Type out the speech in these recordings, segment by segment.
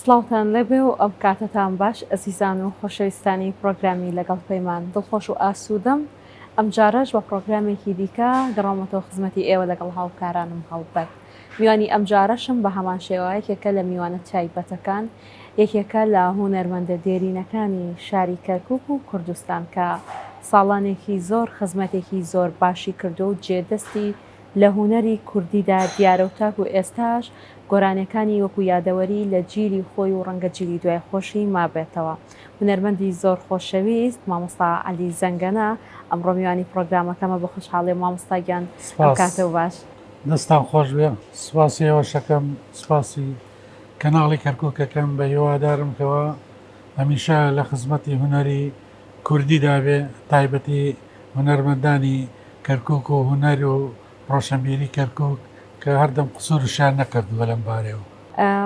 سڵاوتان لێبێ و ئەم کاتەتان باش ئەزیزان و خۆشەویستانی پڕۆگرامی لەگەڵ پەیمان، دڵخۆش و ئاسوودەم ئەمجارەش بە پڕۆگرامێکی دیکە گەڕاومەتەوە خزمەتی ئێوە لەگەڵ هاوکارانم هەڵبەت میوانی ئەمجارەشم بە هەمان شێوە یەکێکە لە میوانە تایبەتەکان یەکێکە لە هونەرمەندە دێرینەکانی شاری کەرکوک و کوردستان کە ساڵانێکی زۆر خزمەتێکی زۆر باشی کردووە و جێ دەستی لە هونەری کوردیدا دیارە و تاکو ئێستاش گۆرانیەکانی وەکو یادەوەری لە جیلی خۆی و ڕەنگە جیلی دوای خۆشی مابێتەوە هونەرمەندی زۆر خۆشەویست مامۆستا عەلی زەنگەنە ئەمڕۆ میوانی پڕۆگرامەکەمە بە خۆشحاڵیم مامۆستا گیان ئەم کاتە و باش. دەستتان خۆش بێ سوپاسی ئێوەشەکەم سوپاسی کەناڵی کەرکوکەکەم بە هیوادارم کەوا هەمیشە لە خزمەتی هونەری. کوردی دابێ تایبەتی هونەرمەندانی کەرکوک و هونەر و ڕۆشەنبیری کەرکوک کە هەردەم قسورشیان نەکردوە لەم بارەیەوە.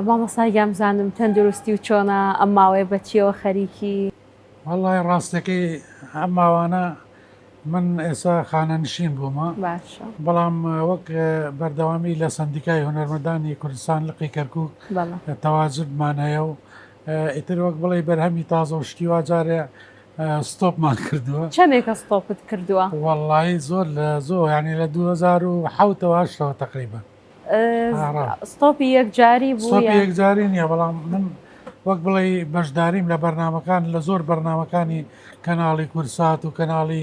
مامۆستا گیان بزانم تەندروستی و چۆنە ئەم ماوەیە بەچیەوە خەریکی. وەڵا ی ڕاستەکەی ئەم ماوانە من ئێستا خانەنشین بوومە باشە. بەڵام وەک بەردەوامی لە سەندیکای هونەرمەندانی کوردستان لقی کەرکوک بەڵە. تەواجدمان هەیە و. ئیتر وەک بڵێی بەرهەمی تازە و شتی وا جارێ ستۆپمان کردووە چەندێکە ستۆپت کردووە؟ وەڵڵاهی زۆر لە زۆر یانی لە دوو هەزار و حەوتەوە هەشتەوە تەقریبەن ئارا. ستۆپی یەکجاری بوو سۆپی یان یەکجاری نییە بەڵام من وەک بڵێی بەشداریم لە بەرنامەکان لە زۆر بەرنمەکانی کەناڵی کورسات و کەناڵی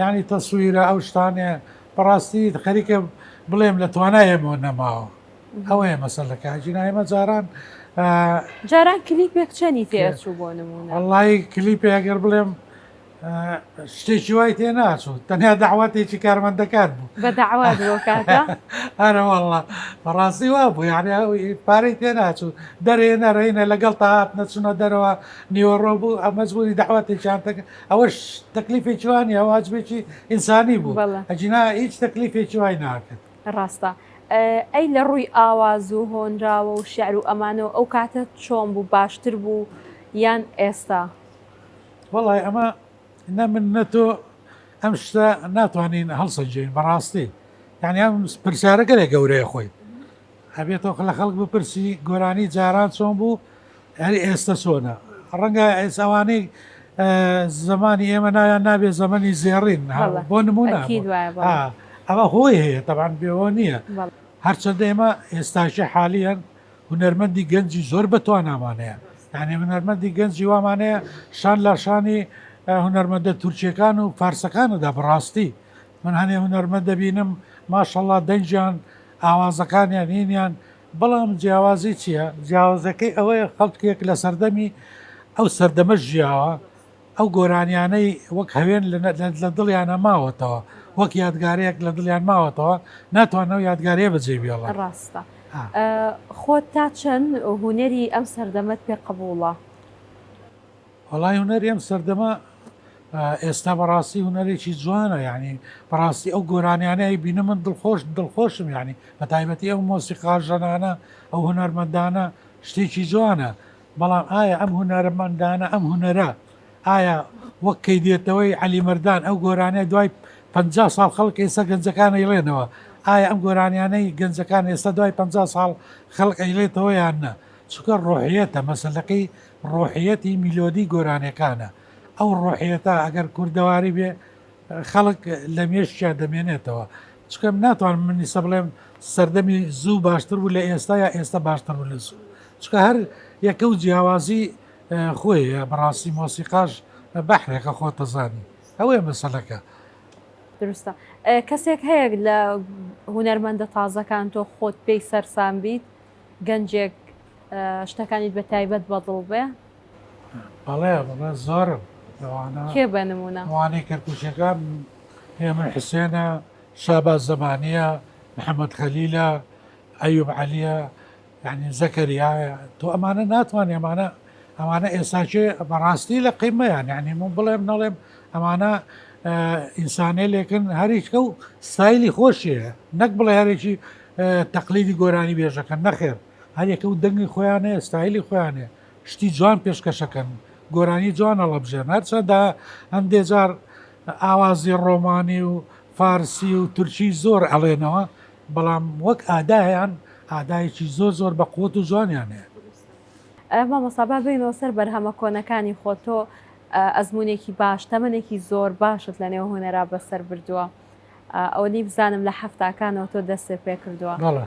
یانی تەسویرە ئەو شتانە بەڕاستی خەریکە بڵێم لە توانای ئێمەوە نەماوە ئەوەیە مەسەلەکە ئەجینا ئێمە جاران جاران کلیپێک چەنی تێچوو بۆ نمونە وڵی کلیپێ ئەگەر بڵێم شتێکی وای تێ ناچوو تەنیا داواتێکی کارمەندەکان بوو بە داوات هەرە وڵە بەڕاستی وا بوو یاعنی پارەی تێ ناچوو دەرێ نەرەینە لەگەڵ تا هات نەچونە دەرەوە نیوەڕۆ بوو ئەمەجبووری داواتێکیان تەکە ئەوەش تەکلیفێکی وا نیە واجبێکی ئینسانی بوو ئەجینا هیچ تەکلیفێکی وای ناکرد ڕاستە ئەی لە ڕووی ئاواز و هۆنراوە و شعر و ئەمانەوە ئەو کاتە چۆن بوو باشتر بوو یان ئێستا وڵی ئەمە نە من نە تۆ ئەم شتە ناتوانین هەڵسەنجین بەڕاستی یعنی ئەم پرسیارەگەلێک گەورەیە خۆی ئەبێ تۆ لە خەڵک بپرسی گۆرانی جاران چۆن بوو ئەری ئێستە چۆنە ڕەنگە ئێس ئەوانەی زمانی ئێمە ناویان نابێ زەمەنی زێڕین بۆ نمونە ئەمە هۆی هەیە تەبان بێەوە نییە هەرچەندە ئێمە ئێستاشی حالیان هونەرمەندی گەنجی زۆر بەتوانامانەیە یانێ هونەرمەندی گەنجی وامانەیە شان لاشانی هونەرمەندە تورکیەکان و فارسەکاندا بڕاستی من هەنێ هونەرمەند دەبینم ماشەڵا دەنگیان ئاوازەکانیان هینیان بەڵام جیاوازی چیە؟ جیاوازەکەی ئەوەیە خەڵکێک لە سەردەمی ئەو سەردەمە ژیاوە ئەو گۆرانیانەی وەک هەوێن لە دڵیانە ماوەتەوە وەک یادگارەیەک لە دڵیان ماوەتەوە ناتوانەوە یادگارەیە بەجێ بێڵە ڕاستە خۆت تا چەند هوەری ئەم سەردەمەت پێ قبوڵە؟ وەڵای هونەری ئەم سەردەمە ئێستا بەڕاستی هونەرێکی جوانە یعنی بەڕاستی ئەو گۆرانیانەی بینە من دڵخۆش دڵخۆشم یعنی بە تایبەتی ئەو مۆسیقاژەنانە ئەو هونەرمەندانە شتێکی جوانە بەڵام ئایا ئەم هونەرمەندانە ئەم هونەرە ئایا وەک کەی دێتەوەی علی مردان ئەو گۆرانە دوای 50 ساڵ خەڵک ئێستا گەنجەکانە یڵێنەوە ئایا ئەم گۆرانیانەی گەنجەکان ئێستا دوای 50 ساڵ خەڵک ئەیلێتەوەیان نە چکە ڕۆحیەتە مەسلەکەی ڕۆحیەتی میلۆدی گۆرانێکانە ئەو ڕۆحیەتە ئەگەر کوردەواری بێ خەڵک لە مێشکیا دەمێنێتەوە چکەم ناتوانم منیسە بڵێم سەردەمی زوو باشتر بوو لە ئێستا یا ئێستا باشتر بوو لە زوو چکە هەر یەکە و جیاوازی خۆی بەڕاستی مۆسیقاش بەحرێکە خۆتەزانی ئەوەیە مەسەلەکە دروستە کەسێک هەیە لە هوەرمەندە تازەکان تۆ خۆت پێی سەرسان بیت گەنجێک شتەکانیت بە تایبەت بەدڵ بێ؟ بەڵێ بەڵێ زۆرم لەوانە کێ بە نمونە ئەوانەی کەرکوچەکان هێمن حسێنە شابا زەمانە محەممەد خەلیلە ئەیوب عەلیە یعنی زەکەریایە تۆ ئەمانە ناتوانانی ئەمانە ئەمانە ئێساچێ بەڕاستی لە قیمەیان یعنی من بڵێم نەڵێم ئەمانە ئینسانێ لێکن هەریچکە و سایلی خۆشیە نەک بڵێ هەرێکی تەقلیدی گۆرانی بێژەکەن نەخێر هەریەکەو دەنگی خۆیانەیە ستایلی خۆیانێ شتی جوان پێشکەشەکەن گۆرانی جوان هەڵەبژێن هەرچەندە هەندێ جار ئاوازی ڕۆمانی و فارسی و تورکی زۆر ئەڵێنەوە بەڵام وەک ئادایان ئادایەکی زۆر زۆر بە قوت و جوانیان هەیە مامۆسابا بینەوە سەر بەرهەمە کۆنەکانی خۆ تۆ ئەزمونێکی باش تەمەێکی زۆر باشت لە نێو هوەرا بەسەر بردووە ئۆلی بزانم لە حەفتاکانەوە تۆ دەستت پێ کردووە. بەڵێ.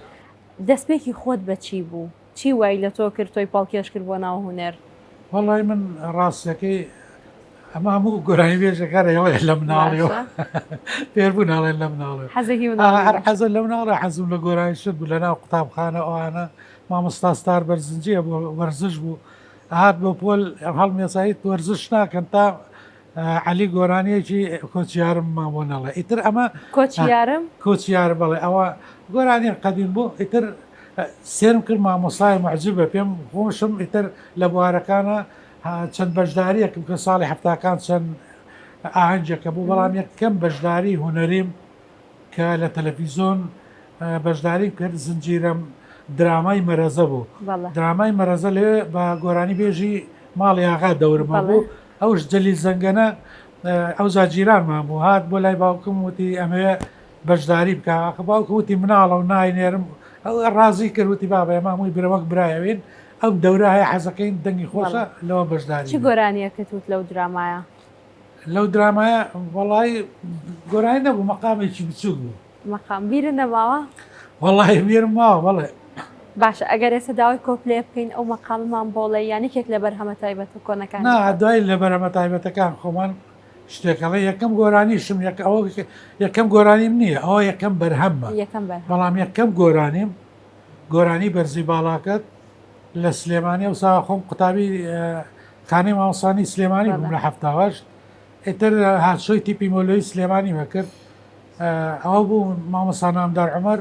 دەستپێکی خۆت بە چی بوو؟ چی وای لە تۆ کرد تۆی پەڵکێش کرد بۆ ناو هونەر؟ وەڵای من ڕاستیەکەی ئەمە هەموو گۆرانیبێژەکان ئەڵێن لە مناڵیەوە فێربوون ئەڵێن لە مناڵێ حەزێکی مناڵی هەر حەزە لە مناڵە حەزم لە گۆرانی شت بوو لەناو قوتابخانە ئەوانە مامۆستا ستار بەرزنجیە بۆ وەرزش بوو هات بۆ پۆل هەڵمێسایی وەرزش ناکەن تا عەلی گۆرانیەکی کۆچ یارم مان بۆ نەڵێ ئیتر ئەمە کۆچ یارم کۆچ یارم بەڵێ ئەوە گۆرانیە قەدیم بوو ئیتر سێرم کرد مامۆسای معجبە پێم خۆشم ئیتر لە بوارەکانە چەند بەشداریەکم کە ساڵی هەفتاکان چەند ئاهەنجەکە بوو بەڵام یەک کەم بەشداری هوەریم کە لە تەلەڤیزۆن بەشداری کرد زنجیرەم درامای مەرەزە بوو درامای مەرەزە لێ بە گۆرانی بێژی ماڵی ئاغا دەورما بوو ئەوش جەلیل زەنگەنە ئەوجا جیرانمان بوو هات بۆ لای باوکم وتی ئەمەوێ بەژداری بکە ئاخ باوکم وتی مناڵە و ناینێرم ئەو ڕازی کرد وتی بابە ئێمە هەمووی برا وەک برا ئەوێین ئەم دەورە هەیە حەزەکەین دەنگی خۆشە بەڵێ لەوە بەژداری چ بین گۆرانیەکت وت لەو درامایە؟ لەو درامایە وەڵایی گۆرانی نەبوو مەقامێکی بچووک بوو. مەقام بیرت نەماوە؟ وەڵاهی بیرم ماوە بەڵێ. باشە ئەگەر ئێستا داوای کۆپلەیە بکەین ئەو مەقامەمان بۆ ڵێ یان یەکێک لە بەرهەمە تایبەتە کۆنەکانی؟ نا دوای لە بەرەمە تایبەتەکان خۆمان شتێک ئەڵێ یەکەم گۆرانیشم یەک ئەوە یەکەم گۆرانیم نییە ئەوە یەکەم بەرهەممە یەکەم بەر بەڵام یەکەم گۆرانیم گۆرانی بەرزی باڵاکەت لە سلێمانی و ساخۆم قوتابی خانەی ماوەسانی سلێمانی بووم لە هەفتاوەشت ئیتر هاتشۆی تیپی مۆلۆی سلێمانی مەکرد ئەوە بوو مامۆسا نامدار عومەر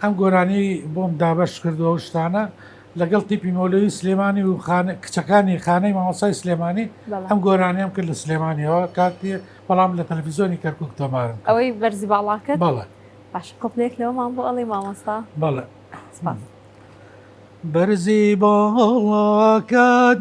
ئەم گۆرانی بۆم دابەش کردوەو شتانە لەگەڵ تیپی مۆلۆی سلێمانی و کچەکانی خانەی مامۆسای سلێمانی ئەم گۆرانیان کرد لە سلێمانیەوە کاتی بەڵام لە تەلەفیزۆنی کەرکک تۆمارن ئەوەی بەرزی باڵاکە بەڵە باش قوتنێک لەوەمان بۆ ئەڵی مامۆستا بەڵە بەرزی باڵاکەت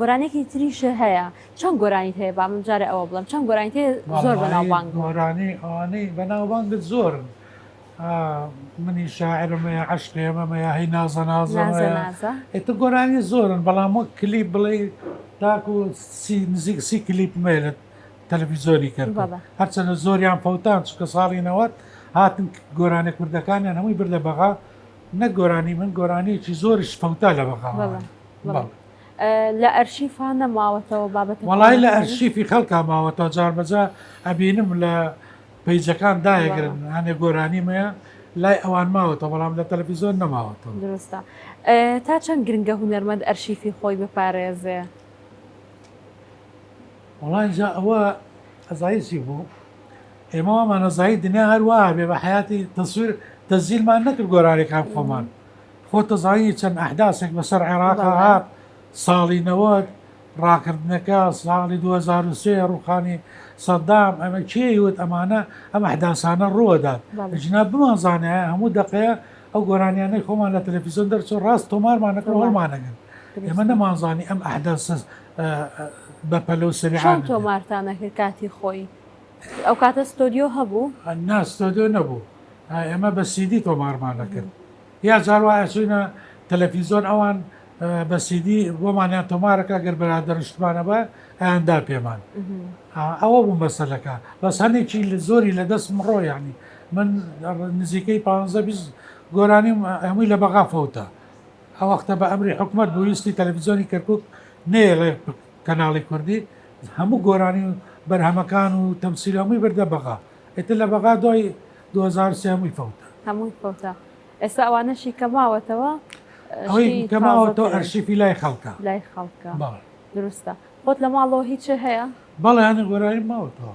گۆرانیەکی تریش هەیە چەند گۆرانیت هەیە با من جارێ ئەوە بڵم چەند گۆرانیت هەیە زۆر بەناوبانگ بوون. گۆرانی ئەوانەی بەناوبانگت زۆرن منی شاعرم هەیە عەشقێمەم هەیە هەی نازە نازە نازە هەیە نازە ئێتە گۆرانی زۆرن بەڵام وەک کلیپ بڵێ تاکو سی نزیک سی کلیپ مێلت تەلەڤیزۆنی کرد بابا. هەرچەندە زۆریان فەوتان چکە ساڵی نەوەت هاتن گۆرانی کوردەکانیان هەمووی بردە بەغا نەک گۆرانی من گۆرانیەکی زۆرش پەوتا لە بەغاوە لە ئەرشیفا نەماوەتەوە بابەت وڵی لە ئەرشیفی خەڵکا ماوەتەوە جاربەجا ئەبینم لە پیجەکان داگرن هەنێ گۆرانی مەیە لای ئەوان ماوەتە بەڵام لە تەلەفیزۆن نەماوەتەوە درستە تا چەند گرنگە هوەرمەند ئەرشیفی خۆی بپارێزێ وەڵا ئینجا ئەوە ئەزایی چی بوو ئێمە وامان ئەزایی دنیا هەر وا بێ بە حەیاتی تەسویر تەزیرمان نەکرد گۆرانیەکان خۆمان خۆ تەزایی چەند ئەحداسێک بەسەر عێراق هات ساڵی نەوەد ڕاکردنەکە ساڵی 2023 ڕوخانی سەدام ئەمە کێ وت ئەمانە ئەم ئەحداسانە ڕوەدات ژنا بمانزانە هەموو دقەیە ئەو گۆرانیانەی خۆمان لە تەلەفیزۆن دەرچۆ ڕاست تۆمارمانەکە هەڵمانەگەن ئێمە نەمانزانی ئەم ئەحداسەس بەپەلو سریان تۆمارتانەکە کاتی خۆی ئەو کاتە ستۆدیۆ هەبوو نا ستۆدیۆ نەبوو ئێمە بە سیدی تۆمارمان نەکرد یا جاروایە چوینە تەلەفیزۆن ئەوان بە سیدی بۆمانیان تۆمارەکە گەر بەرا دەرشتمانە بە ئەیاندا پێمان ئەوە بوو مەسەلەکە بەس هەندێکی لە زۆری لە دەست مڕۆ ینی من نزیکەی پ گۆرانی هەمووی لە بەغا فەوتە ئەوەختە بە ئەمری حکومەت بوو ویستی تەلەفزیۆنی کەرکوک نەیەڵێ کەناڵی کوردی هەموو گۆرانی و بەرهەمەکان و تەمسیل هەمووی بردە بەغا ئیتر لە بەغا دوای 2003 هەمووی فەوتا. هەمووی فەوتا ئێستا ئەوانەشی کە ماوەتەوە ئەوەی کە ماوەتەوە ئەرشیفی لای خەڵکە لای خەڵکە بەڵێ دروستە خۆت لە ماڵەوە هیچێ هەیە؟ بەڵێ هەنێ گۆرانیم ماوەتەوە.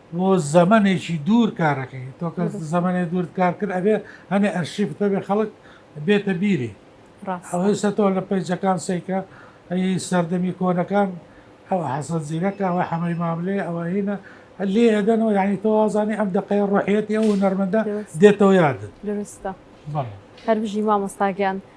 بۆ زەمەنێکی دوور کارەکەی تۆ کە زەمەنێ دوورت کار کرد ئەبێ هەنێ ئەرشیف تەبێ خەڵک بێتە بیری ئەوەیسە تۆ لە پەیجەکان سەیکە ئەی سەردەمی کۆنەکان ئەوە حەسەن زیرەکە ئەوە حەمەی ماملێ ئەوە هینە لێ ئەدەنەوە یعنی تۆ وازانی ئەم دقەیە ڕۆحەتی ئەو نەرمەندە دێتەوە یادت درستە هەربژی مامۆستاگیان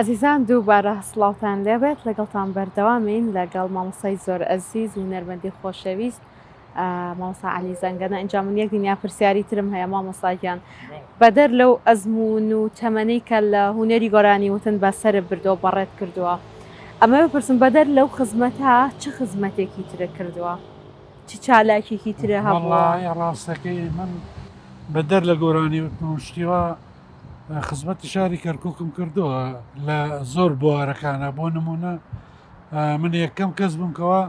ئەزیزان دووبارە سڵاوتان لێبێت لەگەڵتان بەردەوامین لەگەڵ مامۆستای زۆر ئەزیز و نەرمەدی خۆشەویست مامۆسا علی زەنگەنە ئەنجام من یەک دنیا پرسیاری ترم هەیە مامۆساگیان بەدەر لەو ئەزمون و تەمەەی کە لە هوەری گۆرانی وتن بە سەر بردەوە بەڕێت کردووە ئەمە بپرسم بەدەر لەو خزمەتە چ خزمەتێکی ترە کردووە چ چالاکێکی ترە هەڵڵە ڕاستەکەی من بەدەر لە گۆرانی وتنشتیوە خزمەتی شاری کەرککم کردووە لە زۆر بوارەکانە بۆ نمونە من یەکەم کەس بووم کەوا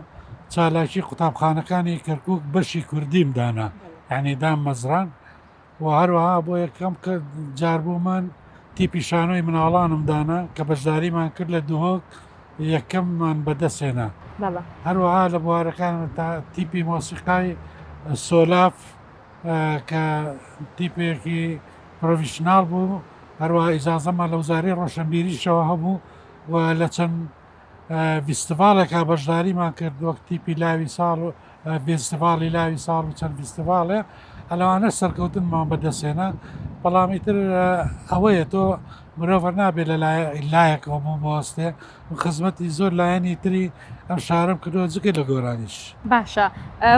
چالاکی قوتابخانەکانی کەرکک بەشی کوردیم دانا یعنیدام مەزران و هەروەها بۆ یەکەم کە جار بوو من تیپی شانۆی مناڵانم دانا کە بەشداریمان کرد لە دهۆک یەکەممان بەدەستێنا هەروەها لە بوارەکان تا تیپی مۆسیقای سۆلاف کە تیپێکی پرۆڤشنال بوو هەروە ئیزازەمان لە وزاری ڕۆشنبیریشەوە هەبوو و لە چەند ڤیستیڤاڵێکا بەشداریمان کرد وەک تیپی لاوی ساڵ و ڤیستیڤاڵی لاوی ساڵ و چەند ڤیستیڤاڵێ هە لەوانە سەرکەوتنمان بەدەستێنا بەڵام ئیتر ئەوەیە تۆ مرۆڤەر نابێت لە لایەکەوە بۆ بۆستێ خزمەتی زۆر لایەنی تری ئەم شارم کردەوە جگە لە گۆرانیش باشە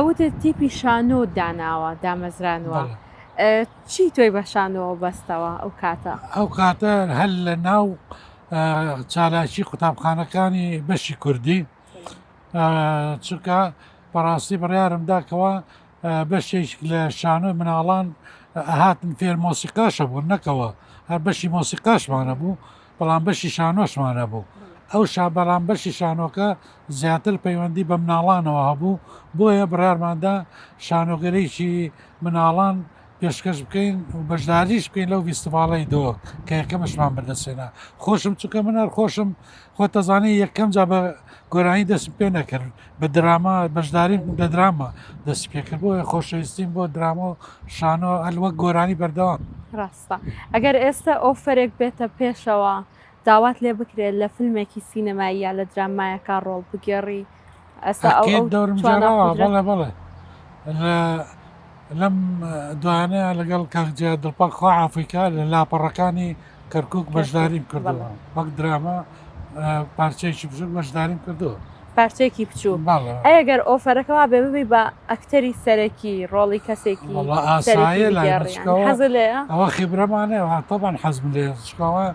وت تیپی شانۆ داناوە دامەزرانوە. چی تۆی بەشانەوە بەستەوە ئەو کاتە ئەو کاتە هەل لە ناو چالاکی قوتابخانەکانی بەشی کوردی چونکە بەڕاستی بڕارم دا کەوا بەشێک لە شانۆی مناڵان هاتن فێر مۆسیقاشە بوون نەکەوە هەر بەشی مۆسیقاشمانە بوو بەڵام بەشی شانۆشمانە بوو ئەو شا بەڵام بەشی شانۆکە زیاتر پەیوەندی بە مناڵانەوە هەبوو بۆیە بڕارماندا شانۆگەریی مناڵان پێشکەش بکەین و بەشداریش بکەین لەو ڤیستیڤاڵەی دۆ کە یەکەمشمان بەردەستێنا خۆشم چونکە من هەر خۆشم خۆ تەزانانی یەکەم جا بە گۆرانی دەست پێ نەکرد بە دراما بەشداری دە دراما دەست پێکرد بۆ خۆشەویستیم بۆ دراما و شانۆ ئەلوە گۆرانی بەردەوام ڕاستە ئەگەر ئێستا ئەو فەرێک بێتە پێشەوە داوات لێ بکرێ لە فلمێکی سینەمایی یا لە درامایەکا ڕۆڵ بگێڕی ئەستا ئەو ئەکید دەورم توانا گێڕاوە قودرەت بەڵێ بەڵێ لە لەم دوایانەیە لەگەڵ کاک جیا دڵپاک خوا عافیکا لە لاپەڕەکانی کەرکک کەرکوک بەشداریم بەڵێ کردووە وەک دراما ئە، پارچەیەکی بچووک بەشداریم کردووە پارچەیەکی بچووک بەڵێ ئەی ئەگەر ئۆفەرەکە وابێ ببی بە ئەکتەری سەرەکی ڕۆڵی کەسێکی وەڵا سەرەکی ئاسایە لای من بگێڕی یانی چکەوە حەزت لێیە؟ ئەوە خیبرەمانەیە تەبان حەزم لێ چکەوە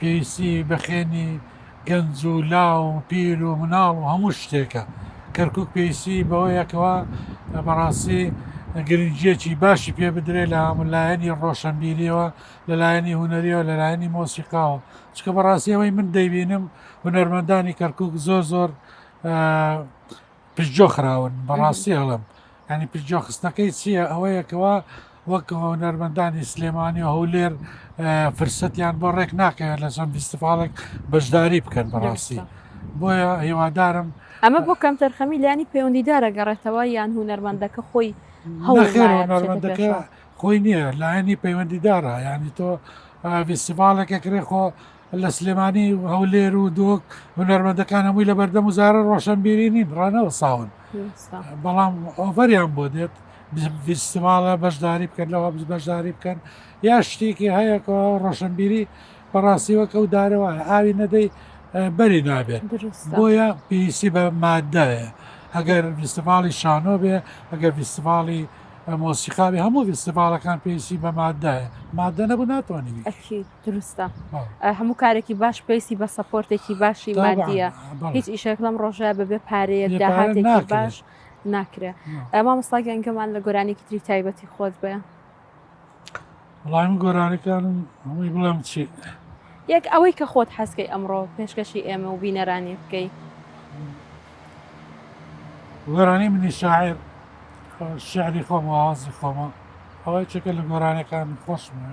پێویستی بە خوێنی گەنج و لاو و پیر و مناڵ و هەموو شتێکە کەرکک پێویستی بەوەیەکەوە بەڕاستی گرنگجیەکی باشی پێ بدرێ لە هەمولایەنی ڕۆشنبیریەوە لەلایەنی هوەریەوە لەلایەنی مۆسیقاوە چکە بەڕاستی ئەوەی من دەیبینم هوەرمەندانی کەرکک زۆر زۆر پشتجۆ خراون بەڕاستی هەڵم یانی پشتگوێ خستنەکەی چییە؟ ئەوەیە کەوا وەک هونەرمەندانی سلێمانی و هەولێر فرسەتیان بۆ ڕێک ناکەوێت لە چەند فیستیڤاڵێک بەشداری بکەن بەڕاستی بۆیە هیوادارم ئەمە بۆ کەم تەرخەمی لانی پەیوەندیدارە گەڕێتەوە یان هونەرمەندەکە خۆی هەوڵمەندەکە خۆی نییە لایەنی پەیوەندیدارە ینی تۆ فیستیڤالێکە کرێ خۆ لە سلێمانی و هەولێر و دۆک هونەرمەندەکان هەمووی لە بەردەم و زارە ڕۆشنبیری نین ڕانەوە ساون بەڵام ئۆڤەریان بۆ دێت فیستیڤالە بەشداری بکەن لەوە بەشداری بکەن یا شتێکی هەیەکەوە ڕۆشنبیری بەڕاستیوە کە و دارەوە ئاوی نەدەی بەری نابێت بۆیە پێویستی بە مادەیە ئەگەر فیستیڤاڵی شانۆ بێ ئەگەر فیستیڤاڵی مۆسیقاوی هەموو فیستیڤالەکان پێویستی بە مادەیە مادە نەبوو ناتوانانی دروستە هەموو کارێکی باش پێویستی بە سەپۆرتێکی باشی مادیە هیچ ئیشێک لەم ڕۆژە بەبێ پارەیە داهاتێکی باش ناکرێ ئەما مستاگە ئەنگەمان لە گۆرانێکی تری تایبەتی خۆت بێ وڵام گۆرانەکانم هەمووی بڵێم چی یەک ئەوەی کە خۆت حەزکەی ئەمڕۆ پێشکەشی ئێمە و بینەرانی بکەی گۆرانی منی شاعر شعری خۆم وازی خۆمە ئەوەی چەکە لە گۆرانەکان خۆشمە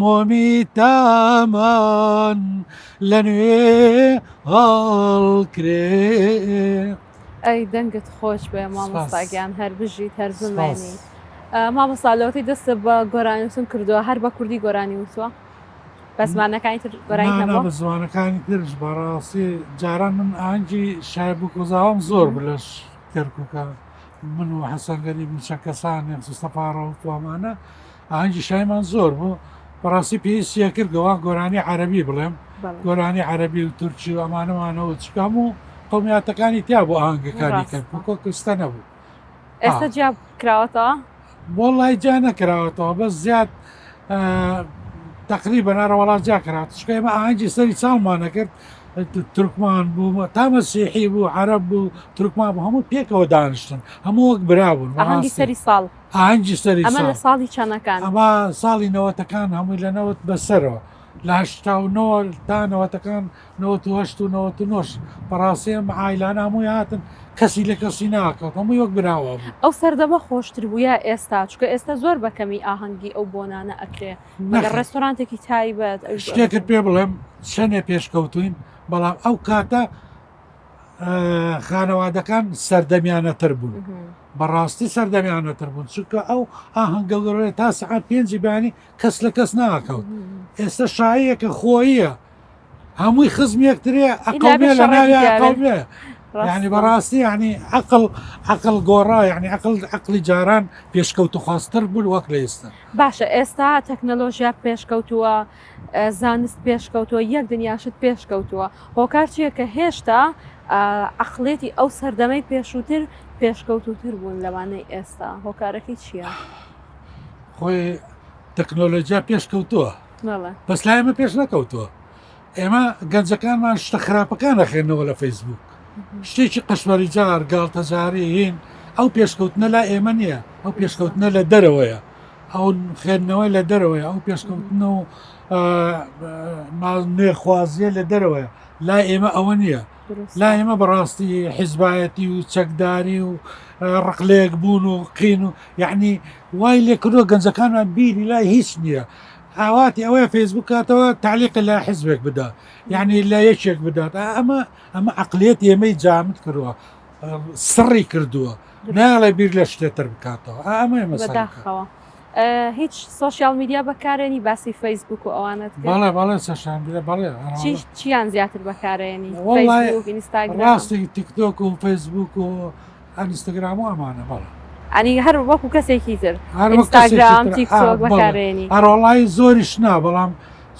مۆمی تامان لە نوێ هەڵکرێ. ئەی دەنگت خۆش بێ مامۆستا گیان هەر بژیت هەر بمێنی مامۆستا لەوەتی دەستە بە گۆرانی وتن کردووە هەر بە کوردی گۆرانی وتووە بە زمانەکانی تر گۆرانی نەبووە بە زمانەکانی ترش بەڕاستی جاران من ئاهەنگی شایب و کۆزاوام زۆر بلەش کەرکووکە من و حەسەنگەری موچە کەسانێک سوستەپاڕە و توامانە ئاهەنگی شایمان زۆر بوو بەڕاستی پێویستە کرد گەوان گۆرانی عربی بڵێم گۆرانی عربی و تورکی و ئەمانەمانەوە چکام و قومیاتەکانی تیا بۆ ئاهنگەکانی کرد کۆ کوستە نەبوو ئێستا جیاب کراوەتەوە بۆ لای جا نەکراوەتەوە بەس زیاد تقری بەنارە وڵات جا کرات چکە ئمە ئاهنگی سەری چاڵمانە کرد ترکمان بوو تامە سیحی بوو عرب بوو ترکمان بوو هەموو پێکەوە دانیشتن هەموو وەک برابوون سەری ساڵ ئاهەنگی سەری ئەمە لە ساڵی چەنەکان ئەمە ساڵی نەوەتەکان هەمووی لە نەوت بەسەرەوە لە هشتا و نەوە تا نەوەتەکان نەوەت وهشت و نەوەت و نۆش بەڕاستی ئەم ئایلان هەمووی هاتن کەسی لە کەسی ناکەوت هەمووی وەک براوە بوو ئەو سەردەمە خۆشتر بوو یا ئێستا چکە ئێستا زۆر بەکەمی ئاهەنگی ئەو بۆنانە ئەکرێ مەگە ڕێستۆرانتێکی تایبەت شتێکت پێ بڵێم چەندێ پێشکەوتوین بەڵام ئەو کاتە خانەوادەکان سەردەمیانەتر بوون بەڕاستی سەردەمیانەتر بوون چونکە ئەو ئاهەنگەگەڕێ تا سعات پێنجی بانی کەس لە کەس ناکەوت ئێستا شاعەکە خۆیە هەمووی خزم یەکترێ ئەقلێ لە ناوێ ینی بەڕاستی ینی عقل عقل گۆڕا ینی عقل عقلی جاران پێشکەوت و خواستتر بوون وەک لە ئێستا باشە ئێستا تەکنەلۆژیا پێشکەوتووە زانست پێشکەوتووە یەک دنیا شت پێشکەوتووە هۆکار چییە کە هێشتا عقلێتی ئەو سەردەمەی پێشووتر پێشکەوتوتر بوون لەوانەی ئێستا هۆکارەکەی چییە خۆی تەکنۆلۆژیا پێشکەوتووە بەس لای ئمە پێش نەکەوتووە ئێمە گەنجەکانمان شتە خراپەکان نەخێنەوە لە فەیسبوک شتێکی قەشمەری جار گاڵتەجاری هین ئەو پێشکەوتنە لا ئێمە نییە ئەو پێشکەوتنە لە دەرەوەیە ئەو خوێندنەوەی لە دەرەوەی ئەو پێشکەوتنە و نوێخوازیە لە دەرەوەیە لا ئێمە ئەوە نییە لا ئێمە بەڕاستی حیزبایەتی و چەکداری و ڕقلێک بوون و قین و یعنی وای لێکردوە گەنجەکانمان بیری لای هیچ نییە ئاواتی ئەوەیە فەیسبوک کاتەوە تعلیق لە حزبێک بدا یعنی لە یەکێک بدات ئەمە ئەمە عقلێت ئێمەی جامت کردوە سڕی کردووە ناڵێ بیر لە شتێتر بکاتەوە ئامێ مەسەخەوە هیچ سوۆسیال میدیا بەکارێنی باسی فەیسبوک و ئەوانت بەڵێ بەڵێ سەشان بەڵێ چیان زیاتر بەکارێنی ڕاستی تیکتۆک و فەیسبوک و ئەنیستاگرام و ئەمانە بەڵێ ئەنی هەر وەکو کەسێکی تر هەرگرام تیکتۆک بەکارێنی هەرۆڵایی زۆریش نا بەڵام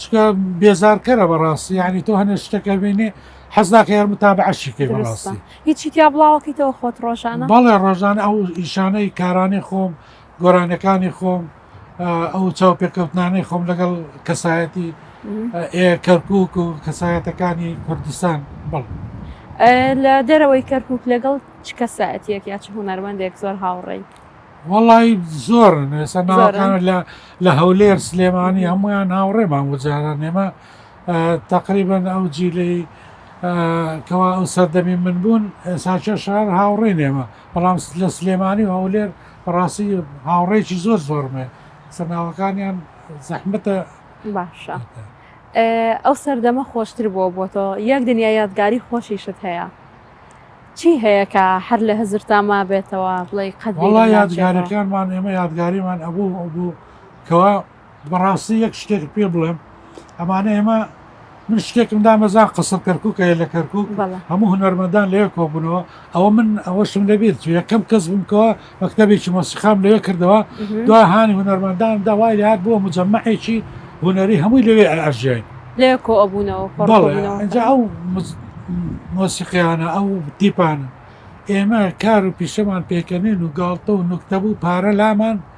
چکە بێزارکەرە بەڕاستی ینی تۆ هەنێ شتەکە بینێ حەزناکە یار متابەعەشی کەی بەڕاستی. هیچی تیا بڵاوەکەیتەوە خۆت ڕۆژانە. بەڵێ ڕۆژانە ئەو ئیشانەی کارانەی خۆم گۆرانیەکانی خۆم ئەو چاوپێکەوتنانەی خۆم لەگەڵ کەسایەتی کەرکک و کەسایەتەکانی کوردستان بڵ. لە دەرەوەی کەرکک لەگەڵ چ کەسایەتیەک یا چ هوەرمەندێک زۆر هاوڕێی. وڵی زۆر نوێسە ناوەکان لە هەولێر سلێمانی هەمویان هاوڕێمان وجاران نێمە تەقریبەن ئەو جیلەی کەوا ئەو سەردەمی من بوون ساچە شار هاوڕێی نێمە بەڵام لە سلێمانی و هەولێر بەڕاستی هاوڕێکی زۆر زۆرمێ سەرناوەکانیان زەحمەتە باشە ئەو سەردەمە خۆشتر بووە بۆ تۆ یەک دنیا یادگاری خۆشیشت هەیە چی هەیە کە هەر لە هزر تا ما بێتەوە بڵێ قەت یادگارەکانمان ئێمە یادگاریمان ئەبوو بوو کەوا بەڕاستی یەک شتێکت پێ بڵێم ئەمانە ئێمە من شتێکم دامەزان قسە کەرکک هەیە لە کەرکک هەموو هونەرمەدان لەوێ کۆبوونەوە ئەوە من ئەوەشم لەبیێت تو یەکەم کەس بمکەوە مەکتتەبێکی مۆسیقام لەوێ کردەوە دو هاانی هونەرمەندان داوای لات بووە مجەممەعێکی هونەری هەمووی لەوێ ئەژێن لێ کۆ ئەبوونەوە ئەو مۆسیقیانە ئەو تیپانە ئێمە کار و پیشەمان پێکەنین و گاڵتە و نوکتەبوو پارە لامان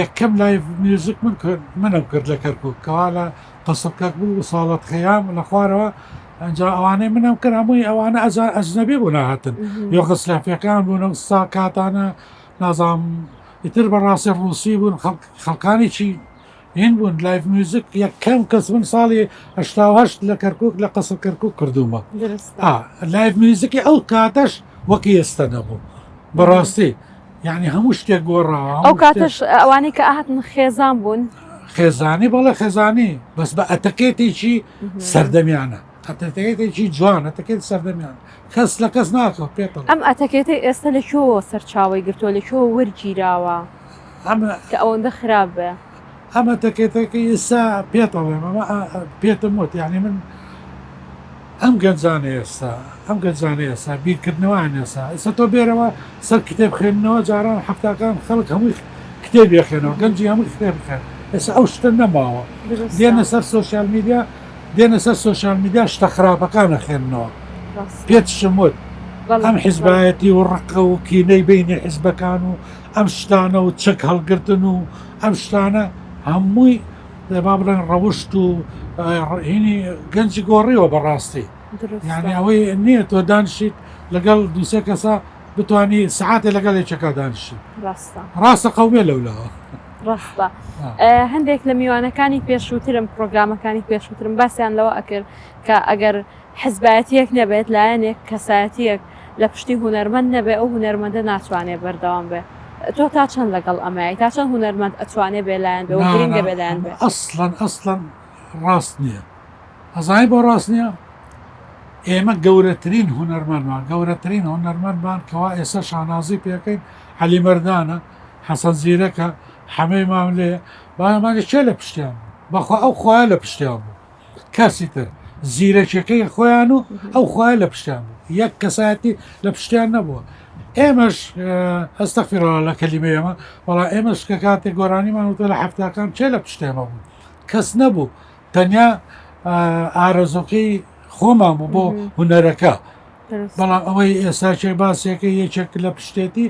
یەکەم لایڤ میوزک من کرد منم کرد لە کەرکوک کەوا لە قەسر کەک بوو ساڵت خەیام لە خوارەوە ئەجا ئەوانەی منم کرد هەمووی ئەوانە ئەجا ئەجنەبی بوو ناهاتن یۆ غسلافەکان بوون سا کاتانە نازام ئیتر بەڕاستی ڕوسی بوون خەڵکانی چی هین بوون لایف میوزیک یەکەم کەس من ساڵی هشت لە کەرکک لە قەسە کەرکک کردومە لایف میوزیکی ئەو کاتەش وەکی ئێستا نەبوو بەڕاستی یعنی هەموو شتێک گۆڕاوە ئەو کاتش ئەوانەی کە ئاهاتن خێزان بوون خێزانی بەڵێ خێزانی بەس بە ئەتەکێتێکی سەردەمیانە ئەتەکێتێکی جوان ئەتەکێت سەردەمیان کەس لە کەس ناکەوت پێ ئەم ئەتەکێتی ئێستا لە چۆ سەرچاوی گرتووە لە چۆ وەرگیراوە ئەم کە ئەوەندە خراپ بێ ئەمە تەکێتە کە ئێستا پێت ئەڵێم ئەمە پێتم وت یانی من ئەم گەنجانە ئێستا ئەم گەنجانە ئێستا بیرکردنەوەیان ئێستا ئێستا تۆ بێرەوە سەر کتێب خوێندنەوە جاران حەفتاکان خەڵک هەمووی کتێب یەخێنەوە گەنجی هەمووی کتێب بخێن ئێستا ئەو شتە نەماوە دێنە سەر سوسیال میدیا دێنە سەر سوسیال میدیا شتە خراپەکانە خوێندنەوە پێتشم وت ئەم حیزبایەتی و ڕقە و کینەی بینی حیزبەکان و ئەم شتانە و چەک هەڵگرتن و ئەم شتانە هەمووی با بڵێن ڕەوشت و هینی گەنجی گۆڕیوە بەڕاستی یعنی ئەوەی نییە تۆ دانشیت لەگەڵ دووسێ کەسە بتانی سعاتێ لەگەڵ یەکەکە دانشی ڕاستە قەومێ لەولاوە ڕاستە هەندێک لە میوانەکانی پێشووترم پرۆگرامەکانی پێشووترم باسییان لەوە ئەکرد کە ئەگەر حزبایەتیەک نەبێت لایەنێک کەسایەتیەک لە پشتی هونەرمەند نەبێ ئەو هونەرمەندە ناتوانێ بەردەوام بێ تۆ تا چەند لەگەڵ ئەمەی تا چەند هونەرمەند ئەتوانێ بێ لایەن بێ و گرنگە بێ لایەن بێ؟ نانا ئەسڵەن ئەسڵەن ڕاست نیە ئەزانی بۆ ڕاست نیە ئێمە گەورەترین هونەرمەندمان گەورەترین هونەرمەندمان کەوا ئێستا شانازی پێکەین عەلی مەردانە حەسەن زیرەکە حەمەی ماملێ بایەمانی کێ لە پشتیان بوو بەخوا ئەو خوایە لە پشتیان بوو. کەسی تر زیرەکیەکەی خۆیان و ئەو خوای لە پشتیان بوو یەک کەسایەتی لە پشتیان نەبووە ئێمەش ئەستەفیرەوە لە کەلیمە ئێمە وڵا ئێمەش کە کاتێک گۆرانیمان وتە لە هەفتاکان چێ لە پشتێمە بوو کەس نەبوو تەنیا ئارەزۆکەی خۆمان بوو بۆ هوەرەکە بەڵام ئەوەی ئێستا چێ باسێکە یەکێک لە پشتێتی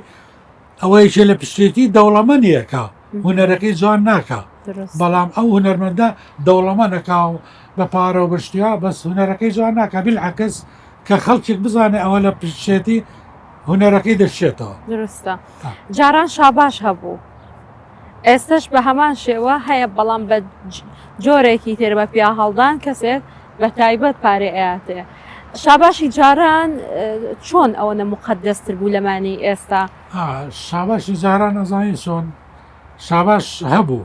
ئەوە یەکێ لە پشتێتی دەوڵەمەنیە کە هونەرەکەی جوان ناکا بەڵام ئەو هونەرمەندە دەوڵەمەنەکە و بە پارە و بەشتیا بەس هونەرەکەی جوان ناکە بیل عکس کە خەڵکێک بزانێ ئەوە لە پشتێتی هونەرەکەی دەشێتەوە درستە جاران شاباش هەبوو ئێستش بە هەمان شێوە هەیە بەڵام بە جۆرێکی تێر بە پیا هەڵدان کەسێت بەتایبەت پارەی ئەیاتێ. شاباشی جاران چۆن ئەوەنە موقەدەس تر بوو لەمانی ئێستا؟ شاباشی جاران ئەزانی چۆن شاباش هەبوو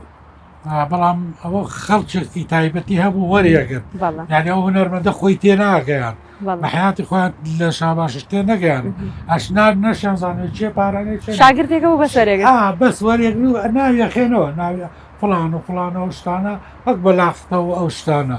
بەڵام ئەوە خەڵکێکی تایبەتی هەبوو وەریەگرت یعنی ئەو هەنەرمەندە خۆی تێ ناگەیان بەحیاتی خۆیان لە شاباشش تێ نەگەیان ئەشنار نەشیان زانێت چێ پارانێ شاگردێکە و بەسەرێک بەس وەرێک ناویەخێنەوە ناوی فلان و فلانەوە شتانە وەک بەلاختەوە ئەو شتانە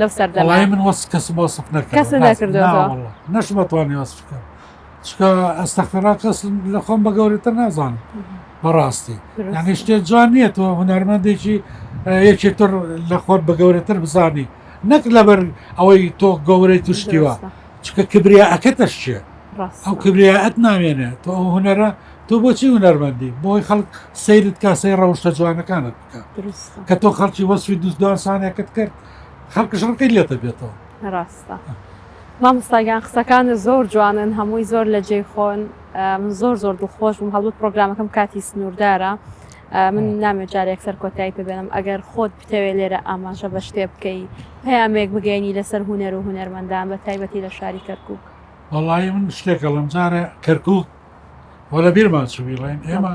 لەو سەردەمە وەڵاهی من وەس کەسم وەسف نەکردم کەست نەکردووە. نا واللە نەشم ئەتوانی وەسف بکەم چکە ئەستەخفیرا کەس لە خۆم بە گەورەتر نازانم بەڕاستی دروست. یعنی شتێ جوان نییە تۆ هونەرمەندێکی ئە، یەکی تر لە خۆت بە گەورەتر بزانی نەک لەبەر ئەوەی تۆ گەورەی توشتیوە دروستە. چکە کبریا ئەکەتەش چیە ڕاستە. ئەو کبریا ئەت نامێنێ تۆ ئەو هونەرە تۆ بۆچی هونەرمەندی بۆی خەڵک سەیرت کا سەیر ڕەوشتە جوانەکانت بکە کە تۆ خەڵکی وەسوی دوست دوانسانێکت کرد خەڵکش ڕقی لێتە بێتەوە ڕاستە مامۆستاگیان قسەکانت زۆر جوانن هەمووی زۆر لە جێی خۆن من زۆر زۆر دڵخۆش بووم هەڵبوو پرۆگرامەکەم کاتی سنووردارە من نامێ جارێک سەر کۆتایی پێبێنم ئەگەر خۆت بتەوێ لێرە ئاماژە بە شتێ بکەی پامێک بگەینی لەسەر هوەر و هوەرمەندان بە تایبەتی لە شاری کەرکک وڵی من شتێکە لەم جارە کەرکک وە لە بیرمان چویڵێن ئێمە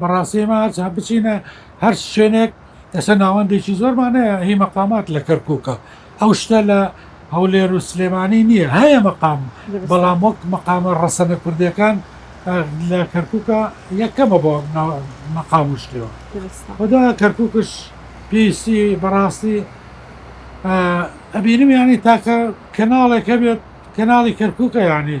بەڕاستی ئێمە هەرچەند بچینە هەر شوێنێک ئێستا ناوەندێکی زۆرمان هەیە هی مەقامات لە کەرکووکە ئەو شتە لە هەولێر و سلێمانی نییە هەیە مەقام بەڵام وەک مەقامە ڕەسەنە کوردەکان لە کەرکووکە یەکەمە بۆ مەقام و شتێەوە خدا کەرکووکش پێویستی بەڕاستی ئەبینم ینی تاکە کەناڵێکە بێت کەناڵی کەرکووکە یانی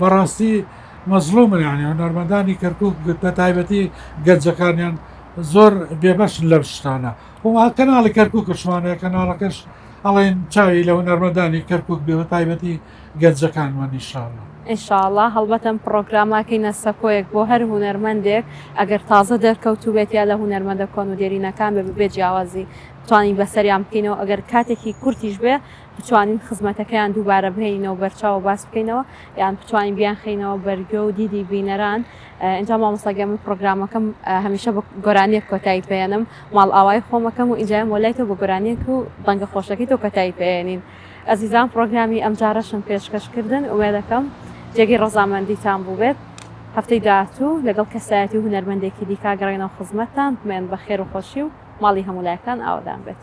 بەڕاستی مەزڵومن یانی هونەرمەندانی کەرکوک بەتایبەتی گەنجەکانیان زۆر بێبەشن لەم شتانە و کەناڵی کەرکوکشمانەیە کەناڵەکەش ئەڵێن چاوی لە هونەرمەندانی کەرکک بێ بەتایبەتی گەنجەکانمان نیشاڵە. ئینشاڵا هەڵبەتەم پڕۆگراماکەی نە سەکۆیەک بۆ هەر هونەرمەندێک ئەگەر تازە دەرکەوتوبێت یا لە هونەرمەندە کۆن و دێرینەکان بێ ببێ جیاوازی توانین بەسەریان بکەینەوە ئەگەر کاتێکی کورتیش بێ بتوانین خزمەتەکەیان دووبارە بهێنینەوە بەرچاو و باس بکەینەوە یان بتوانین بیانخەینەوە بەرگوێ و دیدی بینەران ئینجا مامۆستا گیان من پڕۆگرامەکەم هەمیشە بە گۆرانیەک کۆتایی پێێنم ماڵئاوای خۆمەکەم و ئینجایم وەلای تۆ بە گۆرانیەک و دەنگە خۆشەکەی تۆ کۆتایی پێێنین ئەزیزان پڕۆگرامی ئەم جارەشم پێشکەشکردن وێ دەکەم جێگەی ڕەزامەندیتان بووبێت هەفتەی داهاتوو لەگەڵ کەسایەتی و هونەرمەندێکی دیکە گەڕێنەوە خزمەتتان بمێن بە خێر و خۆشی و ماڵی هەموو لایەکتان ئاوەدان بێت.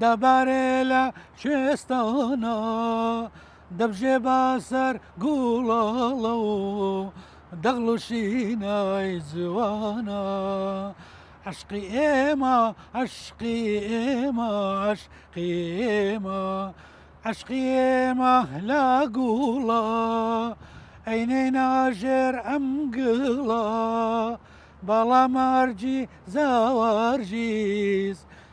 دەبارێ لە کوێستانە دەبژێ بە سەر گوڵاڵە و دەغڵ و شینای جوانە عشقی ئێمە عشقی ئێمە عشقی ئێمە عشقی ئێمە لە گوڵە ئەینەی ناژێر ئەم گڵە باڵا مارجی زاوارژیز